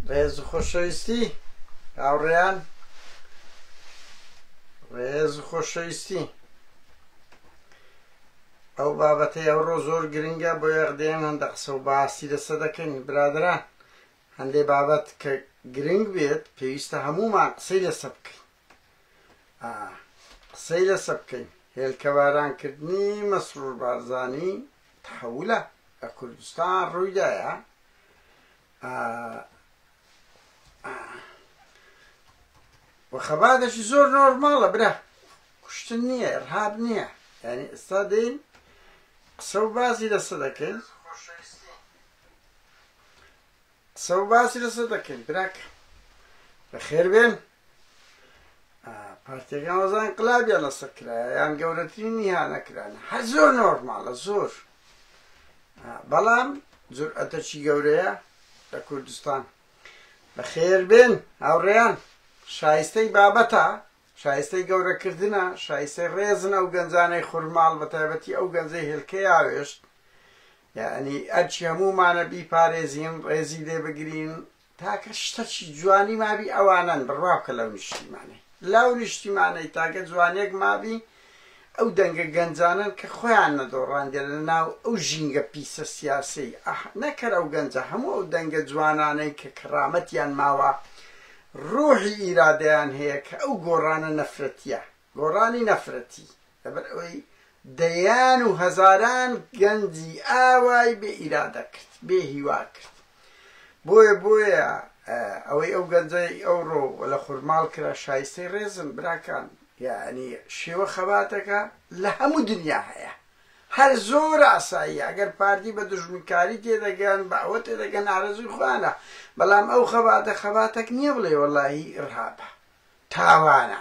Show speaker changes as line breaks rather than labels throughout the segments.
ڕێز و خۆشەویستی هاوڕێیان ڕێز و خۆشەویستی ئەو بابەتەی ئەوڕۆ زۆر گرنگە بۆ یەخدێن هەندە قسە و باسی لەسە دەکەین برادران هەندێ بابەت کە گرنگ بێت پێویستە هەمومان قسەی لەسە بکەین ئا قسەی لەسە بکەین هێلکە باران کردنی مەسرور بارزانی تحولە لە کوردستان ڕوویدایە و خەباتێکی زۆر نۆرماڵە برا کوشتن نییە ئەرهاب نییە یعنی ئێستا دەین قسە و بازی لەسە دەکەین قسە و باسی لەسەر دەکەین براکە بەخێر بێن پارتێکان وەزان انقلابیان لەسەر کرایە یان گەورەترین نیهانە کرانە هەر زۆر نۆرمالە زۆر بەڵام جورئەتەکی گەورەیە لە کوردستان بەخێر بێن هاوڕێیان شایستەی بابەتە شایستەی گەورەکردنە شایستەی ڕێزن ئەو گەنجانەی خورماڵ بە تایبەتی ئەو گەنجەی هێلکە یاوێشت یعنی ئەرچی هەموومانە بیپارێزین ڕێزی لێ بگرین تاکە شتە چی جوانی مابی ئەوانەن بڕوا بکە لەو نیشتیمانەی لەو نیشتیمانەی تاکە جوانێک مابی ئەو دەنگە گەنجانەن کە خۆیان نەدۆڕاندیە لە ناو ئەو ژینگە پیسە سیاسەی ئەح نەکەر ئەو گەنجە هەموو ئەو دەنگە جوانانەی کە کەڕامەتیان ماوە ڕوحی ئیرادەیان هەیە کە ئەو گۆڕانە نەفرەتیە گۆڕانی نەفرەتی لەبەر ئەوەی دەیان و هەزاران گەنجی ئاوای بێ ئیرادە کرد بێ هیوا کرد بۆیە بۆیە ئەوەی ئەو گەنجەی ئەوڕۆ لە خورماڵ کرا شایستەی ڕێزم براکان یعنی شێوە خەباتەکە لە هەموو دنیا هەیە هەر زۆر ئاسایی ئەگەر پارتی بە دژمنکاری تێدەگەن بە ئەوە تێدەگەن ئارەزوی خوانە بەڵام ئەو خەباتە خەباتەک نییە بڵێ وەڵی ڕابە تاوانە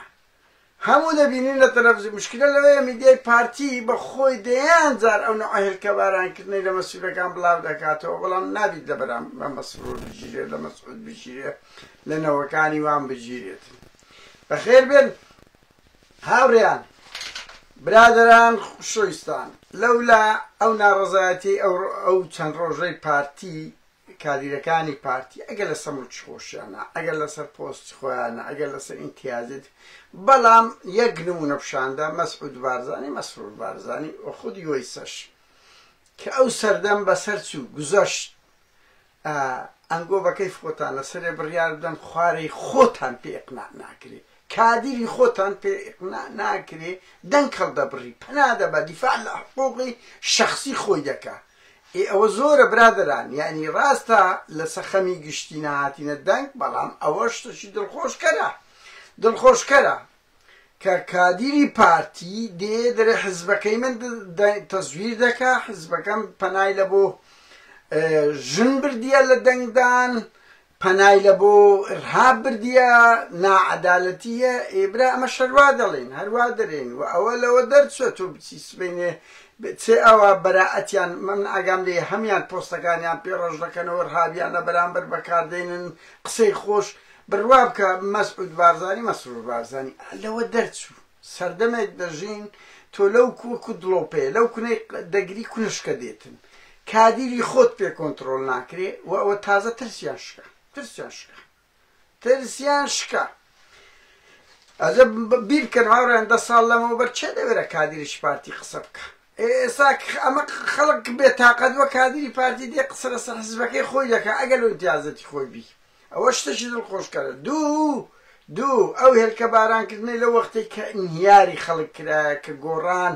هەموو دەبینین لە تەلەفزیون مشکلە لەوەیە میدیای پارتی بە خۆی دەیان جار ئەو نەوعە هێلکەباران کردنەی لە مەسولەکان بلاو دەکاتەوە بەڵام نابیت لە بەرامبەر مەسرور بگیرێت لە مەسعود بگیرێت لە نەوەکانی وان بگیرێت بەخێر بێن هاوڕێیان برادران خوشویستان لەولا ئەو ناڕەزایەتی ئەو ئەو چەند ڕۆژەی پارتی کادیرەکانی پارتی ئەگەر لە سەموچ خۆشیانە ئەگەر لەسەر پۆست خۆیانە ئەگەر لەسەر ئینتیازت بەڵام یەک نمونە پیشاندا مەسعود بارزانی مەسرور بارزانی و خود یۆیسەش کە ئەو سەردەم بەسەر چوو گوزەشت ئەنگۆ بەکەی خۆتان لەسەرێ بڕیار بدەن خوارەی خۆتان پێ ئقنا ناکرێ کادری خۆتان پێ ئیقنا ناکرێ دەنگ هەڵدەبڕی پەنا دەبا دیفاع لە حقوقی شەخسی خۆی دەکا ئێ ئەوە زۆرە برادەران یانی ڕاستە لە سەخەمی گشتی نەهاتینە دەنگ بەڵام ئەوە شتەکی دڵخۆشکەرە دڵخۆشکەرە کە کادیری پارتی دێ دەرێ حزبەکەی من تەزویر دەکا حزبەکەم پەنای لە بۆ ژن بردیە لە دەنگدان پەنای لە بۆ ارهاب بردیە ناعەدالەتیە ئێ برا ئەمەش هەروا دەڵێن هەروا دەرێن وە ئەوە لەوە دەرچوە تۆ بچی سبەینێ بچێ ئەوە بەرائەتیان من ئاگام لێ هەمیان پۆستەکانیان پێ ڕەش دەکەنەوە ارهابیان لە بەرامبەر بەکار دێنن قسەی خۆش بڕوا بکە مەسعود بارزانی مەسرور بارزانی لەوە دەرچوو. سەردەمێک دەژین تۆ لەو کووک و دڵۆپەیە لەو کونەی دەگری کونە شکە دێتن کادیری خۆت پێ کۆنتڕۆل ناکرێ و ئەوە تازە ترسیان شکا ترسیان شکا ترسیان شکا ئەجە بیر بکەن هاوڕێن دە ساڵ لەمەوە بەر چێ دەوێرە کادیریش پارتی قسە بکە ئێستا ئەمە خەڵک بێتاقەت وە کادیری پارتی دێ قسە لەسەر حزبەکەی خۆی دەکە ئەگەر لۆ امتیازەتی خۆی بی ئەوە شتێکی دڵخۆشکەرە. دوو دوو، ئەو هێلکە باران کردنەی لەو وەختەی کە ئینهیاری خەڵک کرایە کە گۆڕان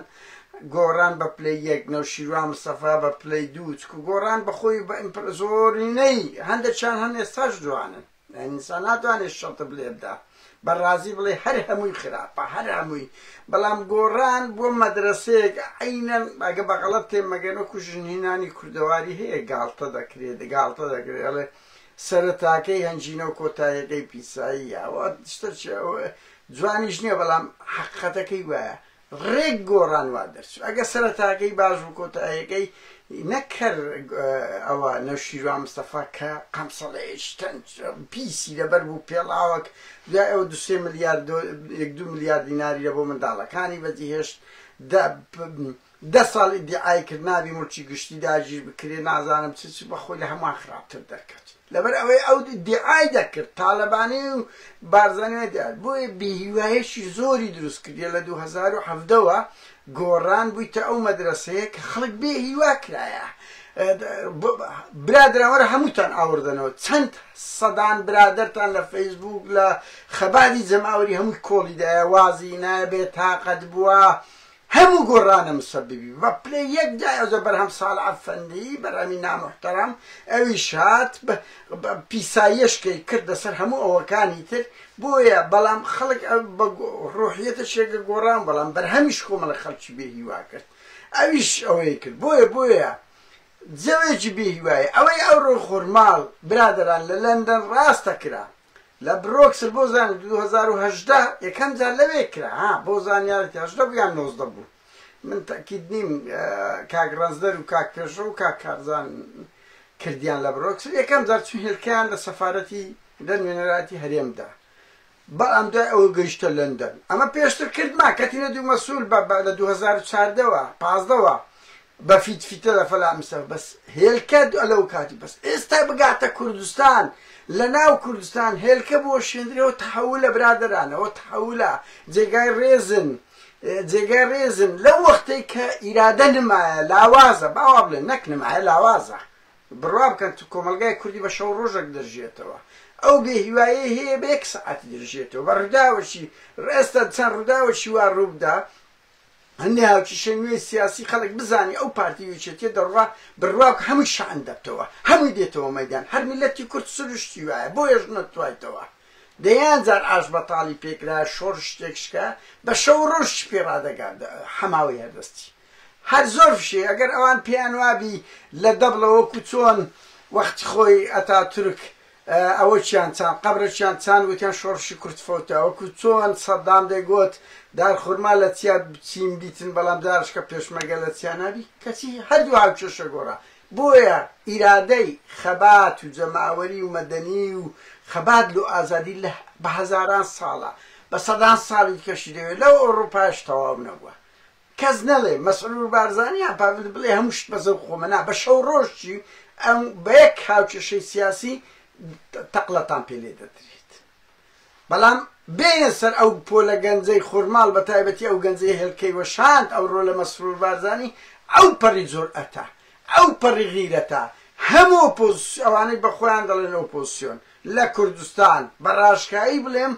گۆڕان بە پلەی یەک، نەوشیروان مستەفا بە پلەی دوو، چکو گۆڕان بە خۆی و بە ئیمپرا زۆرینەی، هەندێکیان هەن ئێستاش جوانن، ئینسان ناتوانێ شەتب لێ بدا، بە رازی بڵێ هەر هەمووی خراپە، هەر هەمووی، بەڵام گۆڕان بووە مەدرەسەیەک، عەینەن، ئەگە بە غەڵەت تێم مەگەن وەکو ژنهینانی کوردەواری هەیە گاڵتە دەکرێ، گاڵتە دەکرێ ئەڵێ، سەرەتاکەی هەنجینە و کۆتایەکەی پیسایی ئەوە شتە جوانیش نییە بەڵام حەقەتەکەی وایە ڕێک گۆڕان وا دەرچوو ئەگە سەرەتاکەی باش و کۆتایەکەی نەکەر ئەوە نەوشیروان مستەفا کە قەمسەڵەیەش تەنج پیسی لەبەر بوو پێڵاوەک دوای ئەو دوسێ ملیار دو ملیار دیناری لە بۆ منداڵەکانی بەجیهێشت دە ساڵ ئیدیعای کرد نابی موڵکی گشتی داگیر بکرێت نازانم چ چ بەخۆی لە هەمووان خراپتر دەرکەچ لەبەر ئەوەی ئەو ئیدیعای دەکرد تالەبانی و بارزانی و دیار بۆیە بیهیوایەکی زۆری دروست کردیە لە دوو هەزار و حەڤدە وە گۆڕان بوویتە ئەو مەدرەسەیە کە خەڵک بێ هیوا کرایە برادران وەرە هەمووتان ئاوردنەوە چەند سەدان برادرتان لە فەیسبوک لە خەباتی جەماوەری هەمووی کۆڵیدایە وازی نایە بێ تاقەت بووە هەموو گۆڕانە مسەببی بە پلە یەک دایە جا بەرهەم ساڵح ئەفەندی بەرهەمی ناموحتەرەم ئەویش هات بە پیساییەشکەی کردە سەر هەموو ئەوەکانی تر بۆیە بەڵام خەڵک بە ڕوحیەتەشێکە گۆڕان بەڵام بەرهەمیش کۆمەڵە خەڵکی بێ هیوا کرد ئەویش ئەوەی کرد بۆیە بۆیە جەوێکی بێ هیوایە ئەوەی ئەوڕۆ خورماڵ برادەران لە لەندەن ڕاستە کرا لە برۆکسل بۆ زانیت دوو هەزار و هەژدە یەکەم جار لەوێ کرا ها بۆ زانیارت هەژدە بوو یان نۆزدە بوو من تەکید نیم کاک ڕەنجدەر و کاک پێشڕە و کاک کارزان کردیان لە برۆکسل یەکەم جار چون هێلکەیان لە سەفارەتی لە نوێنەراتی هەرێمدا بەڵام دوای ئەوە گەیشتە لەندەن ئەمە پێشتر کردمان کەتینە دوو مەسول بە لە 2014ەوە پازدەوە بە فیت فیتە لە فەلا مسە بەس هێلکە لەو کاتی بەس ئێستا بگاتە کوردستان لە ناو کوردستان هێلکە بۆ شێندرەوە تحولە برادرانەوە تحولە جێگای ڕێزن جێگای ڕێزن لەو وەختەی کە ئیرادە نمایە لاوازە باوا بڵێن نەک نمایە لاوازە بڕوا بکەن تو کۆمەلگای کوردی بە شەو ڕۆژێک دەژێتەوە ئەو بێ هیوایە هەیە بە یەک سعاتی دەژێتەوە بە ڕداوەشی ڕێستا چەند ڕداوەشی وا ڕووبدا هەندێ هاوکیشەی نوێی سیاسی خەڵک بزانێ ئەو پارتی و یەکێتیە دەڕوا بڕواکە هەمووی شحن دەبتەوە هەمووی دێتەوە مەیدان هەر میلەتی کورد سروشتی وایە بۆیەش نەتوایتەوە دەیان جار ئاش بەتاڵی پێکرایە شۆرش تێکشکا بە شەو و ڕۆژ چی پێ ڕادەگا حەماوەی هەر دەستی هەر زۆر فشەی ئەگەر ئەوان پێیان وابی لە دەبڵە وەکو چۆن وەختی خۆی ئەتاتورک ئەوە چیان چان قەبرە چیان چان وتیان شۆڕشی کورد فەوتە وەکو چۆن سەدام دەیگۆت دار خورما لە چیا بچین بیتن بەڵام دارشکە پێشمەرگە لە چیا نابی کەچی هەردوو هاوکێشە گۆڕا بۆیە ئیرادەی خەبات و جەماوەری و مەدەنی و خەبات لۆ ئازادی لە بە هەزاران ساڵە بە سەدان ساڵی دیکەشی دەوێت لەو ئەوڕوپایش تەواو نەبووە کەس نەلێ مەسرور بارزانی یان پاڤل بلێ هەموو شت بە زەوق خۆمە نا بە شەو ڕۆژ چی ئەم بە یەک هاوکێشەی سیاسی تەقلەتان پێ لێ دەدریت بەلام بێیە سەر ئەو پۆلە گەنجەی خورماڵ بە تایبەتی ئەو گەنجەی هێلکەی وەشاند ئەو ڕۆلە مەسرور بارزانی ئەو پەڕی جورئەتە ئەو پەڕی غیرەتە هەموو ئۆپۆزسیۆن ئەوانەی بە خۆیان دەڵێن ئۆپۆزسیۆن لە کوردستان بە ڕاشکایی بلێم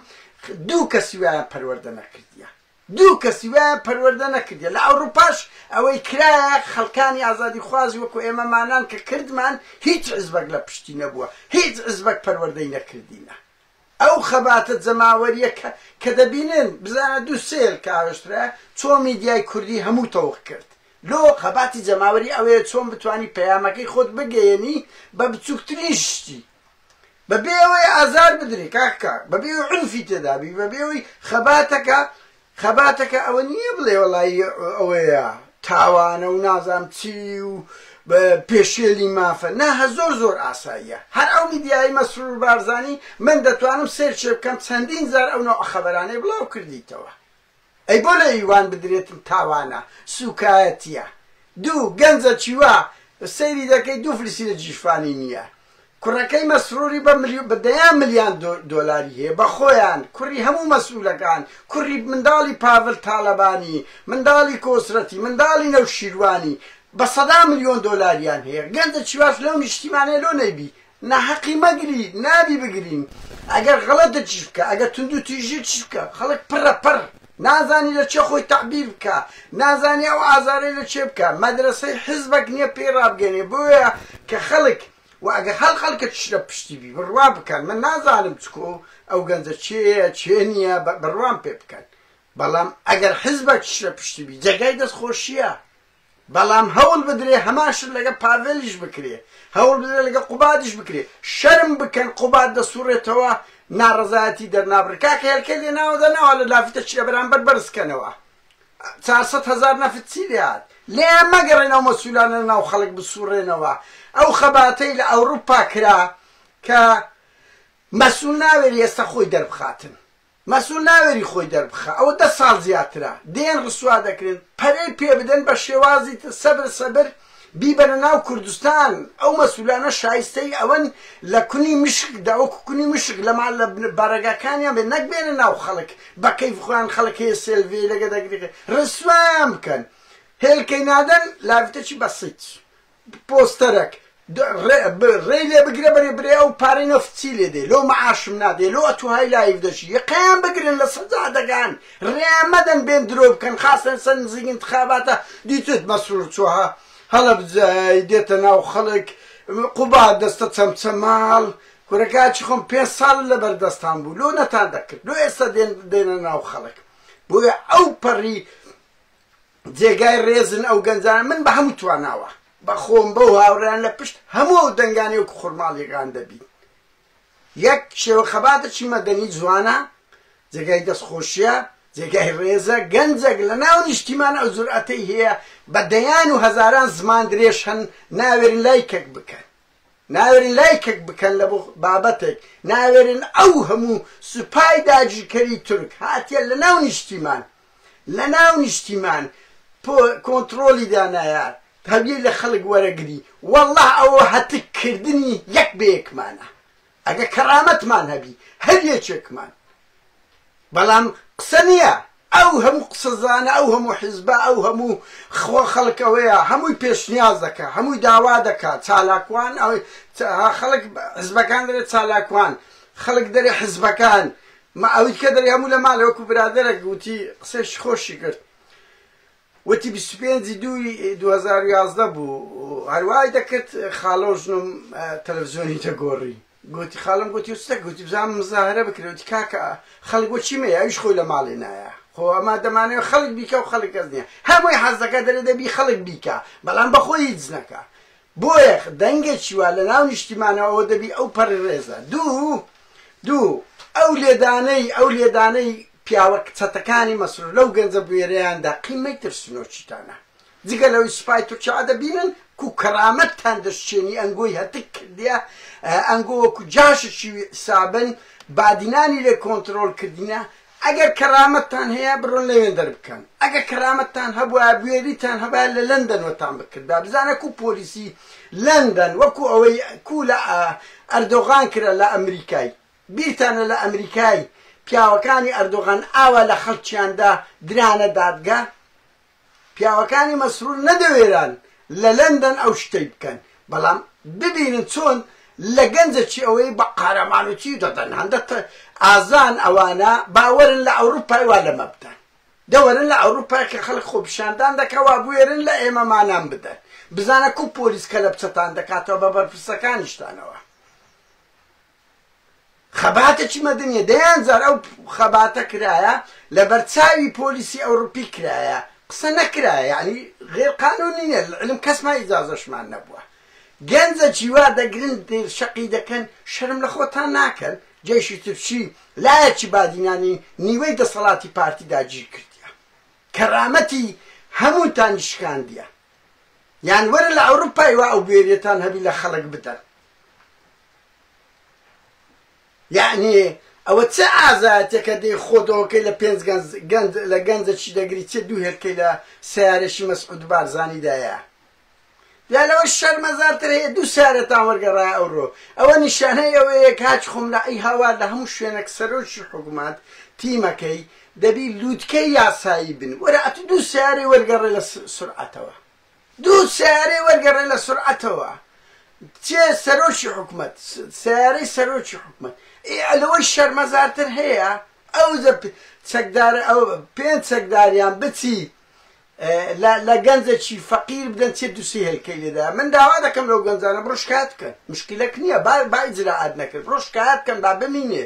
دوو کەسی وایان پەروەردە نەکردیە دوو کەسی وایان پەروەردە نەکردیە لە ئەوڕوپاش ئەوەی کرایە خەڵکانی ئازادی خوازی وەکو ئێمە مانان کە کردمان هیچ حزبەک لە پشتی نەبووە هیچ حزبەک پەروەردەی نەکردینە ئەو خەباتە جەماوەریە کە کە دەبینن بزانە دوو سێ ێل کە ئاوێشترایە چۆن میدیای کوردی هەموو تەوق کرد لۆ خەباتی جەماوەری ئەوەیە چۆن بتوانی پەیامەکەی خۆت بگەیەنی بە بچوکترین شتی بە بێ ئەوەی ئازار بدرێ کاک کاک بە بێ عنفی تێدابی بە بێ ئەوەی خەباتەکە خەباتەکە ئەوە نییە بڵێ وەڵی ئەوەیە تاوانە و نازام چی و پێشێلی مافە نا هە زۆر زۆر ئاساییە هەر ئەو میدیایی مەسرور بارزانی من دەتوانم سێرچێ بکەم چەندین زار ئەو نەوە خەبەرانەی بڵاو کردیتەوە ئەی بۆ لە یوان بدرێتن تاوانە سوکایەتیە دوو گەنجە چیوا سەیری دەکەی دوو فلسی لە جیشفانی نیە کوڕەکەی مەسروری بە ملیو بە دەیان ملیان دۆ دۆلاری هەیە بە خۆیان کوڕی هەموو مەسولەکان کوڕی منداڵی پاڤل تالەبانی منداڵی کۆسرەتی منداڵی نەوشیروانی بە سەدان ملیۆن دۆلاریان هەیە گەنجە چیواش لەو نیشتیمانە لۆ نەیبی نا حەقی مەگری نابی بگرین ئەگەر غەڵەتە چی بکا ئەگەر توندو تیژی چی بکا خەڵک پڕە پڕ نازانی لە چێ خۆی تەعبیر بکا نازانی ئەو ئازارەی لە چێ بکا مەدرەسەی حیزبەک نیە پێی ڕابگەنێ بۆیە کە خەڵک وە ئەگەر هەڵ خەڵکەتیش لە پشتی بی بڕوا بکەن من نازانم چکۆ ئەو گەنجە چێیە چێ نیە بە بڕوام پێ بکەن بەڵام ئەگەر حیزبەکیش لە پشتی بی جێگای دەست خۆشیە بەڵام هەوڵ بدرێ هەمان شت لەگەڵ پاڤێلیش بکرێ، هەوڵ بدرێ لەگەڵ قوبادیش بکرێ، شەرم بکەن قوباد دەسوڕێتەوە ناڕەزایەتی دەرنابڕێ، کاکە هێلکەی لێ ناوە دا ناوا لە لافیتە چیە بەرامبەر بەرز کەنەوە چار سەد هەزار نەفت چی لێ هات، لێیان مەگەڕێن ئەو مەسولانە لە ناو خەڵک بسوڕێنەوە، ئەو خەباتەی لە ئەوڕوپا کرا کە مەسول ناوێری ئێستا خۆی دەربخاتن. مەسول ناوێری خۆی دەربخا ئەوە دە ساڵ زیاترە دێن ڕسوا دەکرێن پەرەی پێ بدەن بە شێوازی تر سەبر سەبر بیبەنە ناو کوردستان ئەو مەسولانە شایستەی ئەوەن لە کونی مشک دا وەکو کونی مشک لە مال لە بارەگاکانیان بێ نەک بێنە ناو خەڵک بە کەیف خۆیان خەڵک هەیە سێلڤێ لەگە دەگرێ ڕسوایان بکەن هێلکەی نادەن لاڤتەچی بەسیت پۆستەرەک رێی لێ بگرە بەرێ برێ ئەو پارەی نەفت چی لێ دێ لۆ معاشم نادێ لۆ ئەتوهای لایف دەشی یەقەیان بگرن لە سەجادەکان رێیان مەدەن بێن درۆ بکەن خاستەن سەر نزیک انتخاباتە دیتت مەسرور چۆها هەڵەبجەی دێتە ناو خەڵک قوبا دەستە چەمچەماڵ کورە کاچی خۆم پێ ساڵ لە بەردەستان بوو لۆ نەتان دەکرد لۆ ئێستا دێنە ناو خەڵک بۆیە ئەو پەڕی جێگای ڕێزن ئەو گەنجانە من بە هەموو تواناوە بە خۆم بەو هاوڕێیان لە پشت هەموو ئەو دەنگانەی وەکو خورماڵی غان دەبین یەک شێوە خەباتێکی مەدەنی جوانە جێگای دەستخۆشیە جێگای ڕێزە گەنجێک لە ناو نیشتیمان ئەو جورئەتەی هەیە بە دەیان و هەزاران زمان درێژ هەن ناوێرن لایکەک بکەن ناوێرن لایکک بکەن لە بابەتێک ناوێرن ئەو هەموو سوپای داگیرکەری تورک هاتیە لە ناو نیشتیمان لە ناو نیشتیمان کۆنتڕۆلی دانایە هەویەی لە خەڵک وەرەگری وەڵا ئەوە هەتک کردنی یەک بە یەکمانە. ئەگە کەڕامەتمان هەبی هەر یەکێکمان بەڵام قسە نیە ئەو هەموو قسەزانە ئەو هەموو حیزبە ئەو هەموو خوا خەڵک ئەوەیە هەمووی پێشنیاز دەکا هەمووی داوا دەکا چالاکوان ئەوەی خەڵک حزبەکان دەرێ چالاکوان خەڵک دەرێ حزبەکان ما ئەویتکە دەرێ هەموو لە مالە وەکو برادەرەک وتی قسەی خۆشی کرد وتی بیست و پێنج ی دوو ی دوو هەزار و یازدە بوو هەر وای دەکرد خاڵە و ژنم تەلەفزیۆنی دەگۆڕی گوتی خاڵم گوتی و ستە گوتی بزانم مزاهرە بکرێ وتی کاکە خەڵک بۆ چی مەیە ئەویش خۆی لە ماڵێ نایە خۆ ئەما دەمانەوێ خەڵک بیکە و خەڵک کەس نییە هەر بۆی حەز دەکا دەرێ دەبی خەڵک بیکا بەڵام بە خۆی هیچ نەکا بۆیە دەنگێکی وا لە ناو نیشتیمانەوە ئەوە دەبی ئەو پەڕی ڕێزە. دوو دوو ئەو لێدانەی ئەو لێدانەی پیاوە چەتەکانی مەسرور لەو گەنجە بوێرەیان دا قیمەی ترسنۆکیتانە. جگە لەوەی سوپای تورکیا دەبینن کو کەرامەتتان دەشکێنی ئەنگۆی هەتک کردیە ئەنگۆ وەکو جاشێکی ویعسابن بادینانی لێ کۆنترۆڵ کردینە ئەگەر کەرامەتتان هەیە بڕۆن لەوێندەر بکەن ئەگەر کەرامەتتان هەبوایە بوێریتان هەبایە لە لەندەن وەتان بکردبا بزانە کو پۆلیسی لەندەن وەکو ئەوەی کو لە ئەردۆغان کرا لە ئەمریکای بیرتانە لە ئەمریکای پیاوەکانی ئەردۆغان ئاوا لە خەڵکیاندا درانە دادگا پیاوەکانی مەسرور نەدەوێران لە لەندەن ئەو شتەی بکەن، بەڵام ببینن چۆن لە گەنجەکی ئەوەی بە قارەمانوتی دەدەن، هەندە تە ئازان ئەوانە با وەرن لە ئەوروپای وا لەمە بدەن، دە وەرن لە ئەوروپای کە خەڵک خۆپیشاندان دەکا وا بوێرن لە ئێمە مانان بدەن، بزانە کوو پۆلیس کەلەپچەتان دەکاتەوە بە بەرپرسەکانیشتانەوە. خەباتەکی مەدەنیە دەیان جار ئەو خەباتە کرایە لەبەر چاوی پۆلیسی ئەوڕپی کرایە قسە نەکرایە یعنی غێر قانونی نیە علم کەسمان ئیجازەشمان نەبووە گەنجە جیوا دەگرن شەقی دەکەن شەرم لە خۆتان ناکەن جێشی ترچی لایەکی بادینانی نیوەی دەسەڵاتی پارتی داگیر کردیە کەرامەتی هەمووتانی شکاندیە یان وەرە لە ئەوروپای وا ئەو بێریەتان هەبی لە خەڵک بدەن یەعنی ئەوە چ ئازایەتێکە دەی خۆت ئەوەکەی لە پێنج گەنج گەنج لە گەنجە چی دەگری چێ دوو هێلکەی لە سەیارەشی مەسعود بارزانی دایە یا لەوە شەرمەزارتر هەیە دوو سارێتان وەرگەڕای ئەوڕۆ ئەوە نیشانەی ئەوەیە کاچ خۆم لە ئەی هاوار لە هەموو شوێنێک سەرۆکی حکومات تیمەکەی دەبی لووتکەی یاسایی بن وەرە ئەتوو دوو سارێ وەرگەڕێ لە سورعەتەوە دوو سەیارەی وەرگەڕێ لە سورعەتەوە چێ سەرۆکی حکومەت سەیارەی سەرۆکی حکومەت ئێ لەوەی شەرمەزارتر هەیە ئەو چەکدارە ئەو پێنج چەکداریان بچی لە گەنجێکی فەقیر بدەن چێ دووسی هێلکەی لێدا من داوا دەکەم لەو گەنجانە بڕۆ شکایەت بکەن مشکلەک نییە با با ئیجرائات نەکرد بڕۆ شکایەت بکەن با بمینێ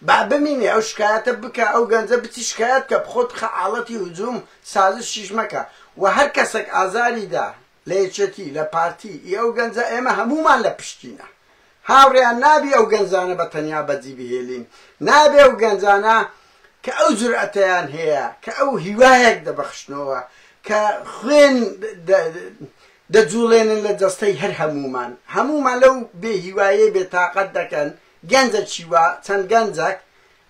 با بمینێ ئەو شکایەتە بکا ئەو گەنجە بچی شکایەت کە بخۆت بخە ئاڵەتی هجوم سازشیش مەکە وە هەر کەسەک ئازاری دا لە یەکێتی لە پارتی ی ئەو گەنجە ئێمە هەموومان لە پشتینە هاوڕێیان نابی ئەو گەنجانە بە تەنیا بەجی بهێلین نابێ ئەو گەنجانە کە ئەو جورئەتەیان هەیە کە ئەو هیوایەک دەبەخشنەوە کە خوێن دەجوڵێنن لە جەستەی هەر هەموومان هەموومان لەو بێ هیوایەی بێ تاقەت دەکەن گەنجە چی وا چەند گەنجەک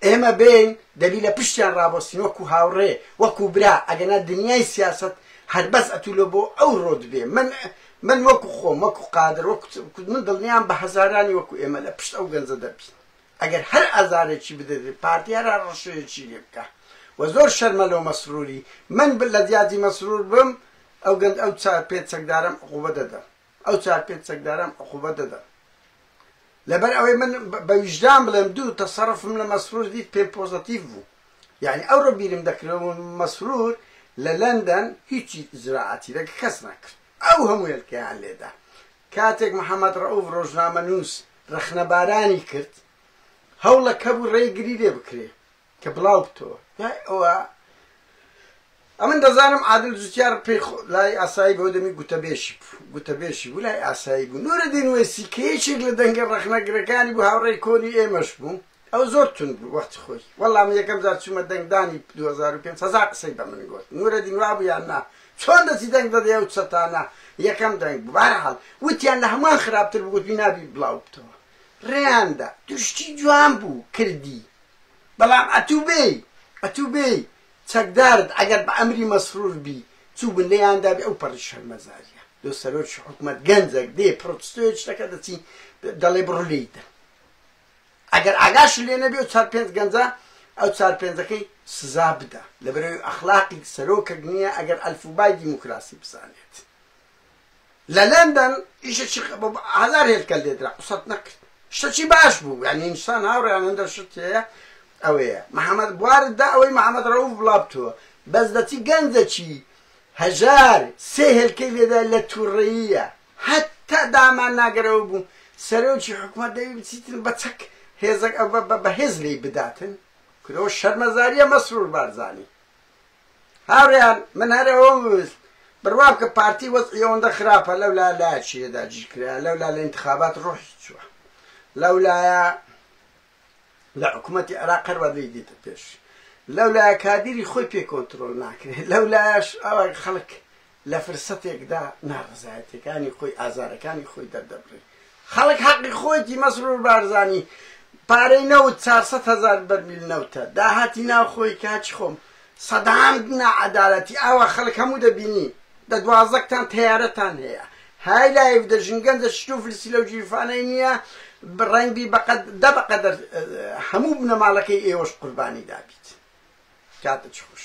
ئێمە بێین دەبی لە پشتیان ڕابۆستین وەکو هاوڕێ وەکو برا ئەگەنا دنیای سیاسەت هەر بەس ئەتو لۆ بۆ ئەو ڕۆ دبێ من من وەکو خۆم وەکو قادر وەکو من دڵنیام بە هەزارانی وەکو ئێمە لە پشت ئەو گەنجە دەبین ئەگەر هەر ئازارێکی بدەێ پارتی هەر هەر ڕەشەیەکی لێ بکا وە زۆر شەرمە لۆ مەسروری من لە جیاتی مەسرور بم ئەو گەنج ئەو چا پێ چەکدارەم عقوبە دەدەم. ئەو چار پێنج چەکدارەم عقوبە دەدەم لەبەر ئەوەی من بە ویژدان بڵێم دوو تەسەرفم لە مەسرور دیت پێم پۆزەتیف بوو یعنی ئەو ڕۆ بیرم دەکرێت مەسرور لە لەندەن هیچی زراعاتی لەگە کەس نەکرد ئەو هەموو هێلکەیان لێدا کاتێک محەممەد ڕەوف ڕۆژنامە نووس ڕەخنەبارانی کرد هەوڵەکە بوو ڕێگری لێ بکرێ کە بڵاو بتەوە دوای ئەوە ئەمن دەزانم عادل جوتیار پێی لای ئاسایی بەو دەمی گوتەبێشی بوو گوتەبێشی بوو لای ئاسایی بوو نورەدین وێسی کە یەکێک لە دەنگە ڕەخنەگرەکانی بوو هاوڕێی کۆنی ئێمەش بوو ئەو زۆر تون بوو وەختی خۆی وەڵام یەکەم جار چوومە دەنگدانی 2005 هزار قسەی بە من گوت نورەدین وا بوو یان نا چۆن دەچی دەنگ دەدەی ئەو چەتانە یەکەم دەنگ بوو بارحاڵ وتیان لە هەمان خراپتر بگوت نابی بڵاو بتەوە ڕێیاندا درشتی جوان بوو کردی بەڵام ئەتوو بێی ئەتوو بێی چەکدارت ئەگەر بە ئەمری مەسرور بی چوو بن لێیان دابی ئەو پەڕی شەرمەزاریە لۆ سەرۆکی حکومەت گەنجەک دێ پڕۆتستۆیەک شتەکە دەچی دەڵێ بڕۆ لێی دە ئەگەر ئاگاش لێ نەبێ و چار پێنج گەنجە ئەو چار پێنجەکەی سزا بدە لەبەرەوەی ئەخلاقی سەرۆکەک نییە ئەگەر ئەلفوبای دیموکراسی بزانێت لە لەندەن ئیشەچی بۆ هەزار هێلکە لێدرا قسەت نەکرد شتەچی باش بوو یعنی ئینسان هاوڕێیان هەندە شت هەیە ئەوەیە محەممەد بوارت دا ئەوەی محەممەد ڕەوف بڵابتووە بەس دەچی گەنجەکی هەژار سێ هێلکەی لێدا لە تووڕەییە هەتا دامان ناگەرەوە بوو سەرۆکی حکومەت دەوی بچیتن بە چەک هێزەک بە هێز لی بداتن کرۆ شەرمەزاریە مەسرور بارزانی هاوریان من هەر ئەوەم ویست بروام کە پارتی وەزعی ئەوەندە خراپە لەولا لایە چیە داگیر کرایە لەولا لە انتخابات ڕوحی چوە لەولایە لە حکوومەتی عێراق هەر وا لێی دێتە پێش لەولایە کادیری خۆی پێ کۆنترۆل ناکرێت لەولایەش ئەوە خەڵک لە فرسەتێکدا ناڕەزایەتیەکانی خۆی ئازارەکانی خۆی دەردەبڕی خەڵک حەقی خۆیتی مەسرور بارزانی پارەی نەوت چار سەد هەزار بەرمیل نەوتە داهاتی ناو خۆی کاچی خۆم سەدان ناعەدالەتی ئاوا خەڵک هەموو دەبینی دە دوازەکتان تەیارەتان هەیە های لایف دە ژنگەن دە شتو فرسی لەو جیرفانەی نییە ڕەنگبی بەقەد دە بەقەدەر هەموو بنەماڵەکەی ئێوەش قوربانی دابیت کاتە چخوش